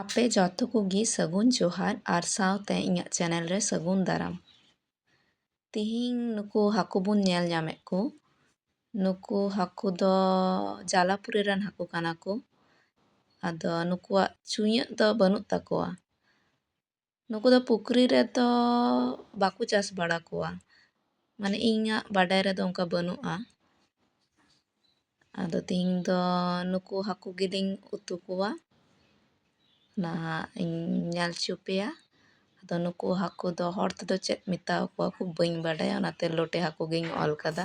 ᱟᱯᱮ ᱡᱚᱛᱚ ᱠᱚᱜᱮ ᱥᱟᱹᱜᱩᱱ ᱡᱚᱦᱟᱨ ᱟᱨ ᱥᱟᱶᱛᱮ ᱤᱧᱟᱹᱜ ᱪᱮᱱᱮᱞ ᱨᱮ ᱥᱟᱹᱜᱩᱱ ᱫᱟᱨᱟᱢ ᱛᱮᱦᱮᱧ ᱱᱩᱠᱩ ᱦᱟᱹᱠᱩ ᱵᱚᱱ ᱧᱮᱞ ᱧᱟᱢᱮᱫ ᱠᱚ ᱱᱩᱠᱩ ᱦᱟᱹᱠᱩ ᱫᱚ ᱡᱟᱞᱟᱯᱩᱨᱤ ᱨᱮᱱ ᱦᱟᱹᱠᱩ ᱠᱟᱱᱟ ᱠᱚ ᱟᱫᱚ ᱱᱩᱠᱩᱣᱟᱜ ᱪᱩᱭᱟᱹᱜ ᱫᱚ ᱵᱟᱹᱱᱩᱜ ᱛᱟᱠᱚᱣᱟ ᱱᱩᱠᱩ ᱫᱚ ᱯᱩᱠᱷᱨᱤ ᱨᱮᱫᱚ ᱵᱟᱠᱚ ᱪᱟᱥ ᱵᱟᱲᱟ ᱠᱚᱣᱟ ᱢᱟᱱᱮ ᱤᱧᱟᱹᱜ ᱵᱟᱰᱟᱭ ᱨᱮᱫᱚ ᱚᱱᱠᱟ ᱵᱟᱹᱱᱩᱜᱼᱟ ᱟᱫᱚ ᱛᱮᱦᱮᱧ ᱫᱚ ᱱᱩᱠᱩ ᱦᱟᱹᱠᱩ ᱜᱮᱞᱤᱧ ᱩᱛᱩ ᱠᱚᱣᱟ ᱱᱟᱦᱟᱜ ᱤᱧ ᱧᱮᱞ ᱦᱚᱪᱚ ᱯᱮᱭᱟ ᱟᱫᱚ ᱱᱩᱠᱩ ᱦᱟᱹᱠᱩ ᱫᱚ ᱦᱚᱲ ᱛᱮᱫᱚ ᱪᱮᱫ ᱢᱮᱛᱟ ᱠᱚᱣᱟ ᱠᱚ ᱵᱟᱹᱧ ᱵᱟᱰᱟᱭᱟ ᱚᱱᱟᱛᱮ ᱞᱚᱴᱮ ᱦᱟᱹᱠᱩ ᱜᱤᱧ ᱚᱞ ᱠᱟᱫᱟ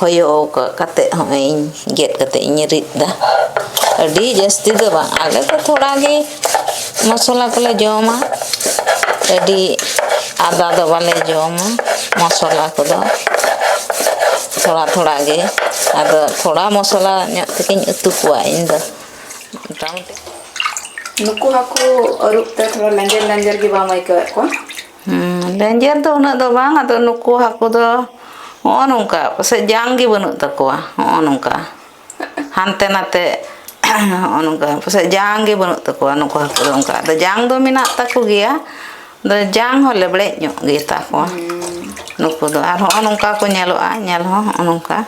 ᱦᱚᱭᱚ ᱠᱟᱛᱮ ᱦᱚᱜᱼᱚᱭ ᱤᱧ ᱜᱮᱫ ᱠᱟᱛᱮ ᱤᱧ ᱨᱤᱫ ᱮᱫᱟ ᱟᱹᱰᱤ ᱡᱟᱹᱥᱛᱤ ᱫᱚ ᱵᱟᱝ ᱟᱞᱮ ᱫᱚ ᱛᱷᱚᱲᱟ ᱜᱮ ᱢᱚᱥᱞᱟ ᱠᱚᱞᱮ ᱡᱚᱢᱟ ᱟᱹᱰᱤ ᱟᱫᱟ ᱫᱚ ᱵᱟᱞᱮ ᱡᱚᱢᱟ ᱢᱚᱥᱞᱟ ᱠᱚᱫᱚ ᱛᱷᱚᱲᱟ ᱛᱷᱚᱲᱟ ᱜᱮ ᱟᱫᱚ ᱛᱷᱚᱲᱟ ᱢᱚᱥᱞᱟ ᱧᱚᱜ ᱛᱮᱜᱮᱧ ᱩᱛᱩ ᱠᱚᱣᱟ ᱤᱧ ᱫᱚ ᱢᱚᱴᱟᱢᱩᱴᱤ ᱱᱩᱠᱩ ᱦᱟᱹᱠᱩ ᱟᱹᱨᱩᱵ ᱛᱮ ᱛᱷᱚᱲᱟ ᱞᱮᱸᱡᱮᱨ ᱞᱮᱸᱡᱮᱨ ᱜᱮ ᱵᱟᱢ ᱟᱹᱭᱠᱟᱹᱣᱮᱫ ᱠᱚᱣᱟ ᱞᱮᱧᱡᱮᱨ ᱫᱚ ᱩᱱᱟᱹᱜ ᱫᱚ ᱵᱟᱝ ᱟᱫᱚ ᱱᱩᱠᱩ ᱦᱟᱹᱠᱩ ᱫᱚ ᱱᱚᱜᱼᱚ ᱱᱚᱝᱠᱟ ᱯᱟᱥᱮᱡ ᱡᱟᱝ ᱜᱮ ᱵᱟᱹᱱᱩᱜ ᱛᱟᱠᱚᱣᱟ ᱱᱚᱜᱼᱚ ᱱᱚᱝᱠᱟ ᱦᱟᱱᱛᱮ ᱱᱟᱛᱮ ᱱᱚᱜᱼᱚ ᱱᱚᱝᱠᱟ ᱯᱟᱥᱮᱡ ᱡᱟᱝ ᱜᱮ ᱵᱟᱹᱱᱩᱜ ᱛᱟᱠᱚᱣᱟ ᱱᱩᱠᱩ ᱦᱟᱹᱠᱩ ᱫᱚ ᱚᱱᱠᱟ ᱟᱫᱚ ᱡᱟᱝ ᱫᱚ ᱢᱮᱱᱟᱜ ᱛᱟᱠᱚ ᱜᱮᱭᱟ ᱟᱫᱚ ᱡᱟᱝ ᱦᱚᱸ ᱞᱮᱵᱲᱮᱡ ᱧᱚᱜ ᱜᱮᱛᱟ ᱠᱚᱣᱟ ᱱᱩᱠᱩ ᱫᱚ ᱟᱨ ᱱᱚᱜᱼᱚ ᱱᱚᱝᱠᱟ ᱠᱚ ᱧᱮᱞᱚᱜᱼᱟ ᱧᱮᱞ ᱦᱚᱸ ᱱᱚᱜᱼᱚ ᱱᱚᱝᱠᱟ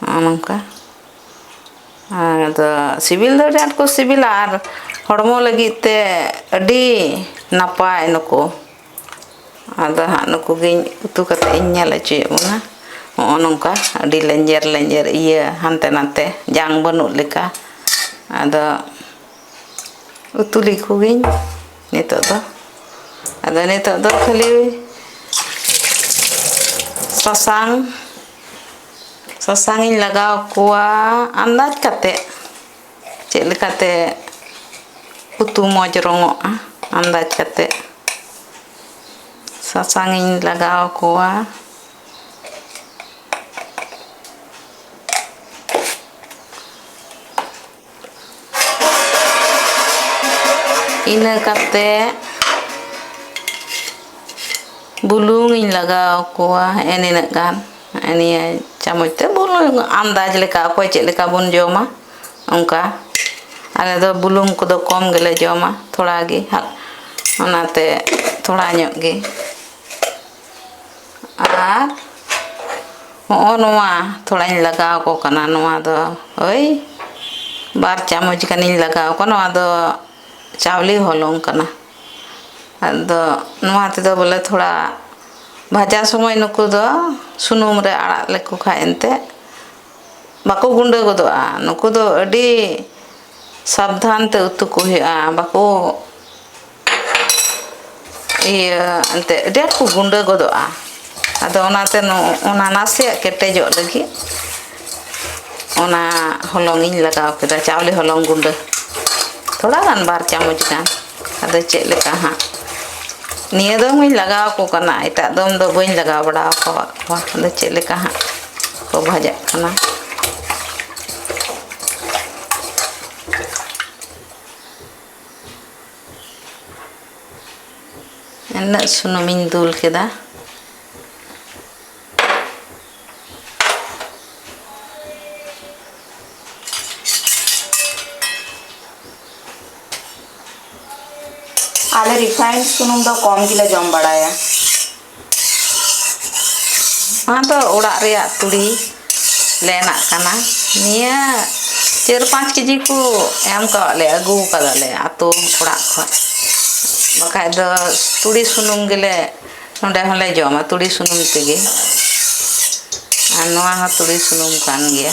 ᱱᱚᱜᱼᱚ ᱱᱚᱝᱠᱟ ᱟᱫᱚ ᱥᱤᱵᱤᱞ ᱫᱚ ᱟᱹᱰᱤ ᱟᱸᱴ ᱠᱚ ᱥᱤᱵᱤᱞᱟ ᱟᱨ ᱦᱚᱲᱢᱚ ᱞᱟᱹᱜᱤᱫ ᱛᱮ ᱟᱹᱰᱤ ᱱᱟᱯᱟᱭ ᱱᱩᱠᱩ ᱟᱫᱚ ᱦᱟᱸᱜ ᱱᱩᱠᱩ ᱜᱮ ᱩᱛᱩ ᱠᱟᱛᱮᱫ ᱤᱧ ᱧᱮᱞ ᱦᱚᱪᱚᱭᱮᱫ ᱵᱚᱱᱟ ᱱᱚᱜᱼᱚ ᱱᱚᱝᱠᱟ ᱟᱹᱰᱤ ᱞᱮᱧᱡᱮᱨ ᱞᱮᱧᱡᱮᱨ ᱤᱭᱟᱹ ᱦᱟᱱᱛᱮ ᱱᱟᱛᱮ ᱡᱟᱝ ᱵᱟᱹᱱᱩᱜ ᱞᱮᱠᱟ ᱟᱫᱚ ᱩᱛᱩ ᱞᱮᱠᱚ ᱜᱤᱧ ᱱᱤᱛᱚᱜ ᱫᱚ ᱟᱫᱚ ᱱᱤᱛᱚᱜ ᱫᱚ ᱠᱷᱟᱹᱞᱤ ᱥᱟᱥᱟᱝ ᱥᱟᱥᱟᱝ ᱤᱧ ᱞᱟᱜᱟᱣ ᱠᱚᱣᱟ ᱟᱱᱫᱟᱡᱽ ᱠᱟᱛᱮ ᱪᱮᱫ ᱞᱮᱠᱟᱛᱮ ᱩᱛᱩ ᱢᱚᱡᱽ ᱨᱚᱝᱚᱜᱼᱟ ᱟᱱᱫᱟᱡᱽ ᱠᱟᱛᱮ ᱥᱟᱥᱟᱝ ᱤᱧ ᱞᱟᱜᱟᱣ ᱠᱚᱣᱟ ᱤᱱᱟᱹ ᱠᱟᱛᱮ ᱵᱩᱞᱩᱝ ᱤᱧ ᱞᱟᱜᱟᱣ ᱠᱚᱣᱟ ᱦᱮᱸ ᱱᱤᱱᱟᱹᱜ ᱜᱟᱱ ᱱᱤᱭᱟᱹ ᱪᱟᱢᱚᱪ ᱛᱮ ᱵᱩᱞᱩᱝ ᱟᱱᱫᱟᱡᱽ ᱞᱮᱠᱟ ᱚᱠᱚᱭ ᱪᱮᱫ ᱞᱮᱠᱟ ᱵᱚᱱ ᱡᱚᱢᱟ ᱚᱱᱠᱟ ᱟᱞᱮ ᱫᱚ ᱵᱩᱞᱩᱝ ᱠᱚᱫᱚ ᱠᱚᱢ ᱜᱮᱞᱮ ᱡᱚᱢᱟ ᱛᱷᱚᱲᱟ ᱜᱮ ᱚᱱᱟᱛᱮ ᱛᱷᱚᱲᱟ ᱧᱚᱜ ᱜᱮ ᱟᱨ ᱦᱚᱸᱜᱼᱚ ᱱᱚᱣᱟ ᱛᱷᱚᱲᱟᱧ ᱞᱟᱜᱟᱣ ᱠᱚ ᱠᱟᱱᱟ ᱱᱚᱣᱟ ᱫᱚ ᱳᱭ ᱵᱟᱨ ᱪᱟᱢᱚᱪ ᱜᱟᱱᱤᱧ ᱞᱟᱜᱟᱣ ᱠᱚᱣᱟ ᱱᱚᱣᱟ ᱫᱚ ᱪᱟᱣᱞᱮ ᱦᱚᱞᱚᱝ ᱠᱟᱱᱟ ᱟᱫᱚ ᱱᱚᱣᱟ ᱛᱮᱫᱚ ᱵᱚᱞᱮ ᱛᱷᱚᱲᱟ ᱵᱷᱟᱡᱟ ᱥᱚᱢᱚᱭ ᱱᱩᱠᱩ ᱫᱚ ᱥᱩᱱᱩᱢ ᱨᱮ ᱟᱲᱟᱜ ᱞᱮᱠᱚ ᱠᱷᱟᱱ ᱮᱱᱛᱮᱫ ᱵᱟᱠᱚ ᱜᱩᱰᱟᱹ ᱜᱚᱫᱚᱜᱼᱟ ᱱᱩᱠᱩ ᱫᱚ ᱟᱹᱰᱤ ᱥᱟᱵᱫᱷᱟᱱ ᱛᱮ ᱩᱛᱩ ᱠᱚ ᱦᱩᱭᱩᱜᱼᱟ ᱵᱟᱠᱚ ᱤᱭᱟᱹ ᱮᱱᱛᱮᱫ ᱰᱷᱮᱨ ᱠᱚ ᱜᱩᱸᱰᱟᱹ ᱜᱚᱫᱚᱜᱼᱟ ᱟᱫᱚ ᱚᱱᱟᱛᱮ ᱚᱱᱟ ᱱᱟᱥᱮᱭᱟᱜ ᱠᱮᱴᱮᱡᱚᱜ ᱞᱟᱹᱜᱤᱫ ᱚᱱᱟ ᱦᱚᱞᱚᱝ ᱤᱧ ᱞᱟᱜᱟᱣ ᱠᱮᱫᱟ ᱪᱟᱣᱞᱮ ᱦᱚᱞᱚᱝ ᱜᱩᱸᱰᱟᱹ ᱛᱷᱚᱲᱟ ᱜᱟᱱ ᱵᱟᱨ ᱪᱟᱢᱚᱪ ᱜᱟᱱ ᱟᱫᱚ ᱪᱮᱫ ᱞᱮᱠᱟ ᱦᱟᱸᱜ ᱱᱤᱭᱟᱹ ᱫᱚ ᱦᱚᱸᱧ ᱞᱟᱜᱟᱣ ᱟᱠᱚ ᱠᱟᱱᱟ ᱮᱴᱟᱜ ᱫᱚᱢ ᱫᱚ ᱵᱟᱹᱧ ᱞᱟᱜᱟᱣ ᱵᱟᱲᱟ ᱟᱠᱟᱫ ᱠᱚᱣᱟ ᱟᱫᱚ ᱪᱮᱫ ᱞᱮᱠᱟ ᱦᱟᱸᱜ ᱠᱚ ᱵᱷᱟᱡᱟᱜ ᱠᱟᱱᱟ ᱩᱱᱟᱹᱜ ᱥᱩᱱᱩᱢᱤᱧ ᱫᱩᱞ ᱠᱮᱫᱟ ᱟᱞᱮ ᱨᱤᱯᱷᱟᱭᱤᱱᱰ ᱥᱩᱱᱩᱢ ᱫᱚ ᱠᱚᱢ ᱜᱮᱞᱮ ᱡᱚᱢ ᱵᱟᱲᱟᱭᱟ ᱱᱚᱣᱟ ᱫᱚ ᱚᱲᱟᱜ ᱨᱮᱭᱟᱜ ᱛᱩᱲᱤ ᱞᱮᱱᱟᱜ ᱠᱟᱱᱟ ᱱᱤᱭᱟᱹ ᱪᱟᱹᱨ ᱯᱟᱸᱪ ᱠᱮᱡᱤ ᱠᱚ ᱮᱢ ᱠᱟᱜ ᱞᱮᱭᱟ ᱟᱹᱜᱩ ᱠᱟᱫᱟ ᱞᱮ ᱟᱛᱳ ᱚᱲᱟᱜ ᱠᱷᱚᱡ ᱵᱟᱠᱷᱟᱡ ᱫᱚ ᱛᱩᱲᱤ ᱥᱩᱱᱩᱢ ᱜᱮᱞᱮ ᱱᱚᱰᱮ ᱦᱚᱸᱞᱮ ᱡᱚᱢᱟ ᱛᱩᱲᱤ ᱥᱩᱱᱩᱢ ᱛᱮᱜᱮ ᱟᱨ ᱱᱚᱣᱟ ᱦᱚᱸ ᱛᱩᱲᱤ ᱥᱩᱱᱩᱢ ᱠᱟᱱ ᱜᱮᱭᱟ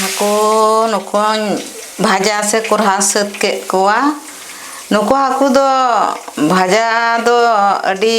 ᱦᱟᱹᱠᱩ ᱱᱩᱠᱩᱧ ᱵᱷᱟᱡᱟ ᱥᱮ ᱠᱚᱨᱦᱟ ᱥᱟᱹᱛ ᱠᱮᱫ ᱠᱚᱣᱟ ᱱᱩᱠᱩ ᱦᱟᱹᱠᱩ ᱫᱚ ᱵᱷᱟᱡᱟ ᱫᱚ ᱟᱹᱰᱤ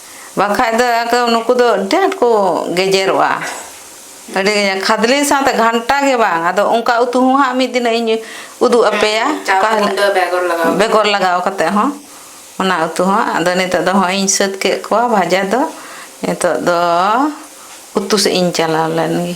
ᱵᱟᱝᱠᱷᱟᱡ ᱫᱚ ᱟᱫᱚ ᱱᱩᱠᱩ ᱫᱚ ᱟᱹᱰᱤ ᱟᱸᱴ ᱠᱚ ᱜᱮᱡᱮᱨᱚᱜᱼᱟ ᱟᱹᱰᱤ ᱠᱷᱟᱫᱽᱞᱮ ᱥᱟᱶᱛᱮ ᱜᱷᱟᱱᱴᱟ ᱜᱮ ᱵᱟᱝ ᱟᱫᱚ ᱚᱱᱠᱟ ᱩᱛᱩ ᱦᱚᱸ ᱦᱟᱸᱜ ᱢᱤᱫ ᱫᱤᱱᱚᱜ ᱤᱧ ᱩᱫᱩᱜ ᱟᱯᱮᱭᱟ ᱚᱠᱟ ᱦᱤᱞᱳᱜ ᱵᱮᱜᱚᱨ ᱞᱟᱜᱟᱣ ᱠᱟᱛᱮ ᱦᱚᱸ ᱚᱱᱟ ᱩᱛᱩ ᱦᱚᱸ ᱟᱫᱚ ᱱᱤᱛᱚᱜ ᱫᱚ ᱦᱚᱸᱜᱼᱚᱭ ᱤᱧ ᱥᱟᱹᱛ ᱠᱮᱫ ᱠᱚᱣᱟ ᱵᱷᱟᱡᱟ ᱫᱚ ᱱᱤᱛᱚᱜ ᱫᱚ ᱩᱛᱩ ᱥᱮᱫ ᱤᱧ ᱪᱟᱞᱟᱣ ᱞᱮᱱᱜᱮ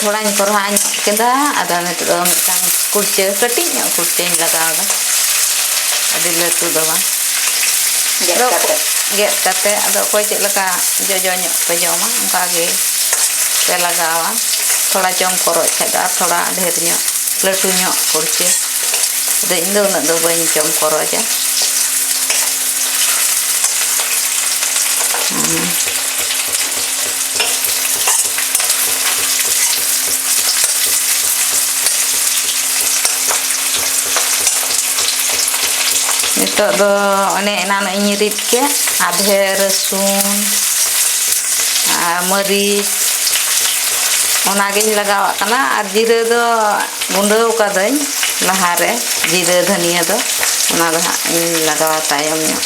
ᱛᱷᱚᱲᱟᱧ ᱠᱚᱨᱦᱟ ᱧᱚᱜ ᱠᱮᱫᱟ ᱟᱫᱚ ᱱᱤᱛᱚᱜ ᱫᱚ ᱢᱤᱫᱴᱟᱝ ᱠᱩᱲᱪᱟᱹ ᱠᱟᱹᱴᱤᱡ ᱧᱚᱜ ᱠᱩᱲᱪᱟᱹᱧ ᱞᱟᱜᱟᱣᱫᱟ ᱟᱹᱰᱤ ᱞᱟᱹᱴᱩ ᱫᱚ ᱵᱟᱝ ᱜᱮᱫ ᱠᱟᱛᱮ ᱜᱮᱫ ᱠᱟᱛᱮ ᱟᱫᱚ ᱚᱠᱚᱭ ᱪᱮᱫ ᱞᱮᱠᱟ ᱡᱚᱡᱚ ᱧᱚᱜ ᱯᱮ ᱡᱚᱢᱟ ᱚᱱᱠᱟ ᱜᱮ ᱯᱮ ᱞᱟᱜᱟᱣᱟ ᱛᱷᱚᱲᱟ ᱡᱚᱢ ᱠᱚᱨᱦᱟᱜ ᱠᱷᱟᱡ ᱫᱚ ᱟᱨ ᱛᱷᱚᱲᱟ ᱰᱷᱮᱨ ᱧᱚᱜ ᱞᱟᱹᱴᱩ ᱧᱚᱜ ᱠᱩᱲᱪᱟᱹ ᱟᱫᱚ ᱤᱧ ᱫᱚ ᱩᱱᱟᱹᱜ ᱫᱚ ᱵᱟᱹᱧ ᱡᱚᱢ ᱠᱚᱨᱦᱟᱭᱟ ᱱᱤᱛᱚᱜ ᱫᱚ ᱚᱱᱮ ᱮᱱᱟᱱᱚᱜ ᱤᱧ ᱨᱤᱫ ᱠᱮᱫ ᱟᱫᱷᱮ ᱨᱟᱹᱥᱩᱱ ᱟᱨ ᱢᱟᱹᱨᱤᱪ ᱚᱱᱟᱜᱤᱧ ᱞᱟᱜᱟᱣᱟᱜ ᱠᱟᱱᱟ ᱟᱨ ᱡᱤᱨᱟᱹ ᱫᱚ ᱜᱩᱸᱰᱟᱹᱣ ᱠᱟᱹᱫᱟᱹᱧ ᱞᱟᱦᱟᱨᱮ ᱡᱤᱨᱟᱹ ᱫᱷᱟᱹᱱᱤᱭᱟᱹ ᱫᱚ ᱚᱱᱟ ᱫᱚ ᱦᱟᱸᱜ ᱤᱧ ᱞᱟᱜᱟᱣᱟ ᱛᱟᱭᱚᱢ ᱧᱚᱜ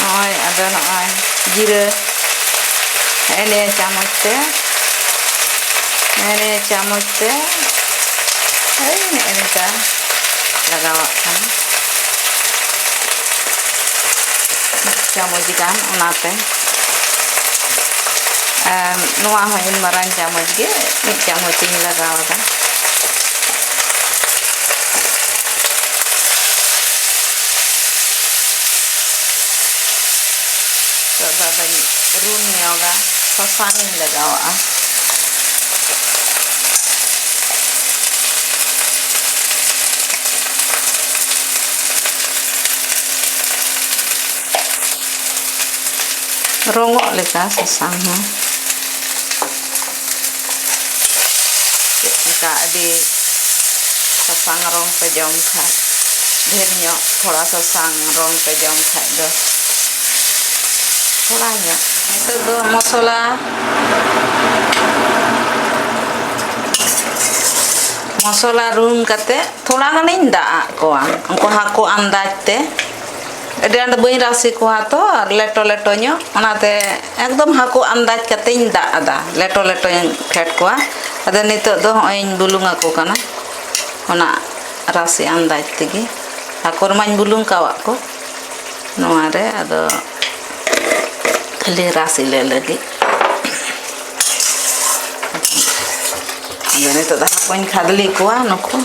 ᱱᱚᱜᱼᱚᱭ ᱟᱫᱚ ᱱᱚᱜᱼᱚᱭ ᱡᱤᱨᱟᱹ ᱦᱮᱸ ᱱᱤᱭᱟᱹ ᱪᱟᱢᱚᱪ ᱛᱮ ᱦᱮᱸ ᱱᱤᱭᱟᱹ ᱪᱟᱢᱚᱪ ᱛᱮ ᱦᱳᱭ ᱱᱮᱜᱼᱮ ᱱᱮᱝᱠᱟ ᱞᱟᱜᱟᱣᱟᱜ ᱠᱟᱱᱟ ᱢᱤᱫ ᱪᱟᱢᱚᱪ ᱜᱟᱱ ᱚᱱᱟᱛᱮ ᱟᱨ ᱱᱚᱣᱟ ᱦᱚᱸ ᱤᱧ ᱢᱟᱨᱟᱝ ᱪᱟᱢᱚᱪ ᱜᱮ ᱢᱤᱫ ᱪᱟᱢᱚᱪ ᱤᱧ ᱞᱟᱜᱟᱣ ᱮᱫᱟ ᱱᱤᱛᱚᱜ ᱫᱚ ᱟᱫᱚᱧ ᱨᱩᱱ ᱧᱚᱜᱟ ᱥᱟᱥᱟᱝᱤᱧ ᱞᱟᱜᱟᱣᱟᱜᱼᱟ ᱨᱚᱝᱚᱜ ᱞᱮᱠᱟ ᱥᱟᱥᱟᱝ ᱦᱚᱸ ᱪᱮᱫ ᱞᱮᱠᱟ ᱟᱹᱰᱤ ᱥᱟᱥᱟᱝ ᱨᱚᱝ ᱯᱮ ᱡᱚᱢ ᱠᱷᱟᱡ ᱰᱷᱮᱨ ᱧᱚᱜ ᱛᱷᱚᱲᱟ ᱥᱟᱥᱟᱝ ᱨᱚᱝ ᱯᱮ ᱡᱚᱢ ᱠᱷᱟᱡ ᱫᱚ ᱛᱷᱚᱲᱟ ᱧᱚᱜ ᱱᱤᱛᱚᱜ ᱫᱚ ᱢᱚᱥᱞᱟ ᱢᱚᱥᱞᱟ ᱨᱩᱱ ᱠᱟᱛᱮᱫ ᱛᱷᱚᱲᱟ ᱜᱟᱱᱤᱧ ᱫᱟᱜ ᱟᱜ ᱠᱚᱣᱟ ᱩᱱᱠᱩ ᱦᱟᱹᱠᱩ ᱟᱱᱫᱟᱡᱽ ᱛᱮ ᱟᱹᱰᱤ ᱟᱸᱴ ᱵᱟᱹᱧ ᱨᱟᱥᱮ ᱠᱚᱣᱟ ᱛᱚ ᱟᱨ ᱞᱮᱴᱚ ᱞᱮᱴᱚ ᱧᱚᱜ ᱚᱱᱟᱛᱮ ᱮᱠᱫᱚᱢ ᱦᱟᱹᱠᱩ ᱟᱱᱫᱟᱡᱽ ᱠᱟᱛᱮᱧ ᱫᱟᱜ ᱟᱫᱟ ᱞᱮᱴᱚ ᱞᱮᱴᱚᱧ ᱯᱷᱮᱰ ᱠᱚᱣᱟ ᱟᱫᱚ ᱱᱤᱛᱚᱜ ᱫᱚ ᱦᱚᱸᱜᱼᱚᱭ ᱤᱧ ᱵᱩᱞᱩᱝ ᱟᱠᱚ ᱠᱟᱱᱟ ᱚᱱᱟ ᱨᱟᱥᱮ ᱟᱱᱫᱟᱡᱽ ᱛᱮᱜᱮ ᱦᱟᱹᱠᱩ ᱨᱮᱢᱟᱧ ᱵᱩᱞᱩᱝ ᱠᱟᱣᱟᱜ ᱠᱚ ᱱᱚᱣᱟᱨᱮ ᱟᱫᱚ ᱠᱷᱟᱹᱞᱤ ᱨᱟᱥᱮ ᱞᱮ ᱞᱟᱹᱜᱤᱫ ᱟᱫᱚ ᱱᱤᱛᱚᱜ ᱫᱚ ᱦᱟᱹᱠᱩᱧ ᱠᱷᱟᱫᱽᱞᱮ ᱠᱚᱣᱟ ᱱᱩᱠᱩ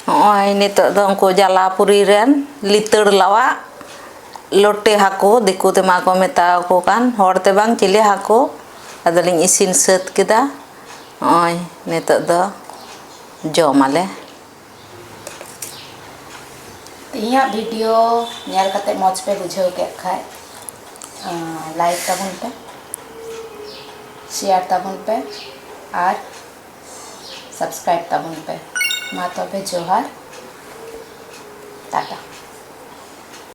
ᱱᱚᱜᱼᱚᱭ ᱱᱤᱛᱚᱜ ᱫᱚ ᱩᱱᱠᱩ ᱡᱟᱞᱟᱯᱩᱨᱤ ᱨᱮᱱ ᱞᱤᱛᱟᱹᱲ ᱞᱟᱣᱟᱜ ᱞᱚᱴᱮ ᱦᱟᱹᱠᱩ ᱫᱤᱠᱩ ᱛᱮᱢᱟ ᱠᱚ ᱢᱮᱛᱟᱣᱟᱠᱚ ᱠᱟᱱ ᱦᱚᱲ ᱛᱮ ᱵᱟᱝ ᱪᱤᱞᱤ ᱦᱟᱹᱠᱩ ᱟᱫᱚᱞᱤᱧ ᱤᱥᱤᱱ ᱥᱟᱹᱛ ᱠᱮᱫᱟ ᱱᱚᱜᱼᱚᱭ ᱱᱤᱛᱚᱜ ᱫᱚ ᱡᱚᱢᱟᱞᱮ ᱤᱧᱟᱹᱜ ᱵᱷᱤᱰᱤᱭᱳ ᱧᱮᱞ ᱠᱟᱛᱮ ᱢᱚᱡᱽ ᱯᱮ ᱵᱩᱡᱷᱟᱹᱣ ᱠᱮᱫ ᱠᱷᱟᱡ ᱞᱟᱭᱤᱠ ᱛᱟᱵᱚᱱ ᱯᱮ ᱥᱮᱭᱟᱨ ᱛᱟᱵᱚᱱ ᱯᱮ ᱟᱨ ᱥᱟᱵᱥᱠᱨᱟᱭᱤᱵ ᱛᱟᱵᱚᱱ ᱯᱮ ᱢᱟ ᱛᱚᱵᱮ ᱡᱚᱦᱟᱨ ᱴᱟᱴᱟ